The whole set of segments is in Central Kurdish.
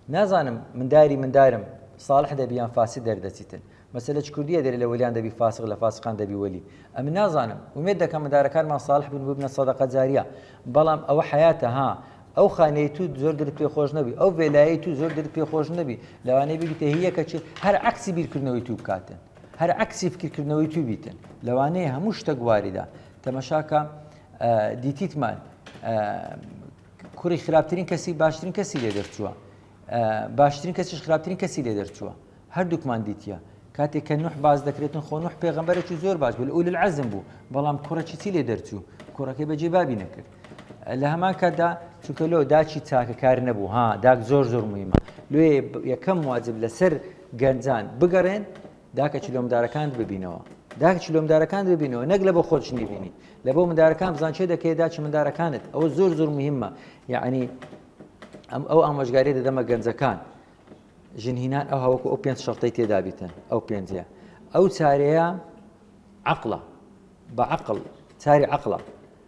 نازانم من داری من دارم ساڵح دەبی یان فاسد دەردەچیتن مەسەلە چ کوردیە دەرێ لە وەلیان دەبی فاسق لە فاسقان دەبی وەلی ئەمن نازانم ئومێد دەکەم مندارەکانمان ساڵح بن ببنە سەدەقە جاریە بەڵام ئەوە حەیاتە ها ئەو خانەی تو زۆر درت پێ خۆش نەبی ئەو ڤێلایی تو زۆر درت پێ خۆش نەبی لەوانەیە بگیتە هیەکە چی هەر عکسی بیرکردنەوەی تو بکاتن هەر عکسی فکرکردنەوەی تو بیتن لەوانەیە هەموو شتە گوواریدا تەمەشاکە دیتیتمان کوڕی خراپترین کەسی باشترین کەسی لێ دەرچووە باشترین کەسیش خراپترین کەسی لێ دەرچووە هەردووکمان دیتە کاتێک کە نوح باز دەکرێتن خۆ نوح پێغمبەرێکی زۆر باش بوو ئول العزم بوو بەڵام کوڕەکی چی لێ دەرچوو کوڕەکەی بەجێ بابی نەکرد لە هەمان کاتدا چونکە لۆ داچی چاکەکار نەبوو ها داک زۆر زۆر مهمە لێ یەکەم واجب لەسەر گەنجان بگەڕێن داکە چلۆمدارەکانت ببینەوە. داکە چلۆمدارەکانت ببینەوە نەک لەبۆ خۆت شتی بینی لەبۆ مندارەکان بزان چێ دەکەی دا چمندارەکانت ئەوە زۆر زۆر مهمە یعنی ئەم ئەو ئامۆژگاری دەدەمە گەنجەکان ژنهینان ئەو هەوەکو ئەو پێنج شەڵتەی تێدابیتن ئەو پێنجە ئەو چارەیە عقلە بە عقل چاری عقلە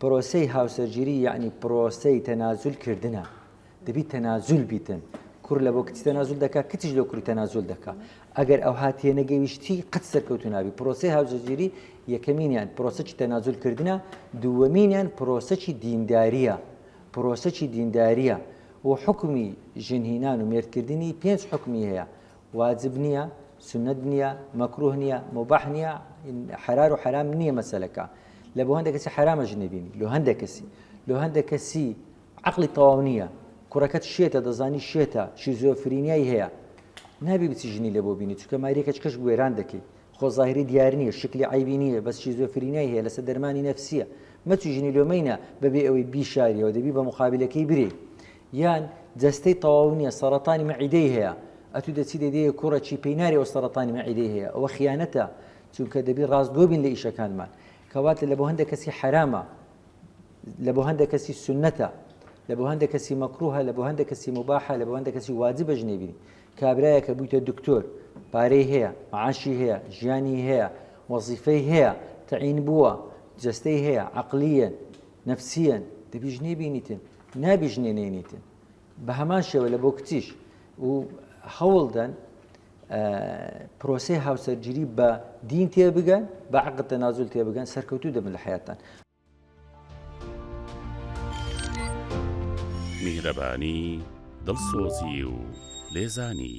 پرۆسەی هاوسەرگیری یەعنی پرۆسەی تەنازول کردنە دەبی تەنازول بیتن کوڕ لە بۆ کچ تەنازول دەکا کچش لە کوری تەنازول دەکا ئەگەر ئەو هات تێنەگەویشتی قەت سەرکەوتو نابی پرۆسی هاوزەگیری یەکەمینیان پرۆسەی تەنازول کردنە دووەمینیان پرۆسەی دینداریە پرۆسەی دینداریە و حکمی ژنهینان و مێردکردنی پێنج حکمی هەیە واجب نیە سونەت نیە مەکروه نیە موباح نیە حەرار و حەرام نیە مەسەلەکە لە بۆ هەندێک کەسی حەرامەش نەبینی لۆ هەندێک کەسی لۆ هەندێک کەسی عقلی تەواو نییە کوڕەکەت شێتە دەزانی شێتە شیزۆفرینیای هەیە نابی بچی ژنی لە بۆ بینی چکە ماریەکەچ کەش گوێران دەکەی خۆ ظاهری دیار نییە شکلی عیبی نییە بەس شیزۆفرینیای هەیە لەسەر دەرمانی نەفسیە مەچی ژنی لۆمەینە بەبێ ئەوەی بیشاریەوە دەبی بە مخابلەکەی برێ یان جەستەی تەواو نیە سەڕەتانی مەعیدەی هەیە ئەتو دەچی دەیدەیە کوڕە چی پێی ناری ئەو سەڕەتانی مەعیدەی هەیە ئەوە خیانەتە چونکە دەبی ڕاستگۆ بین لە ئیشەکانمان کەواتە لە بۆ هەندێک کەسی حەرامە لە بۆ هەندێک کەسی سنەتە لە بۆ هەندێک کەسی مەکروهە لە بۆ هەندێک کەسی مباحە لە بۆ هەندێک کەسی واجبە ژنێ بینی کابرایە کە بوویتە دکتۆر پارەی هەیە معاشی هەیە ژیانی هەیە وەزیفەی هەیە تعین بووە جستەی هەیە عقلیە نفسیەن دەبی ژنێ بینیتن نابیژنێنێنیتن بە هەمان شێوە لە بۆ کچیش و هەوڵدەن پرۆسی هاوسەرگیری بە دین تێبگەن بە عقد تەنازول تێبگەن سەرکەوتو دەبن لە حیاتان میهرەبانی دڵسۆزی و لێزانی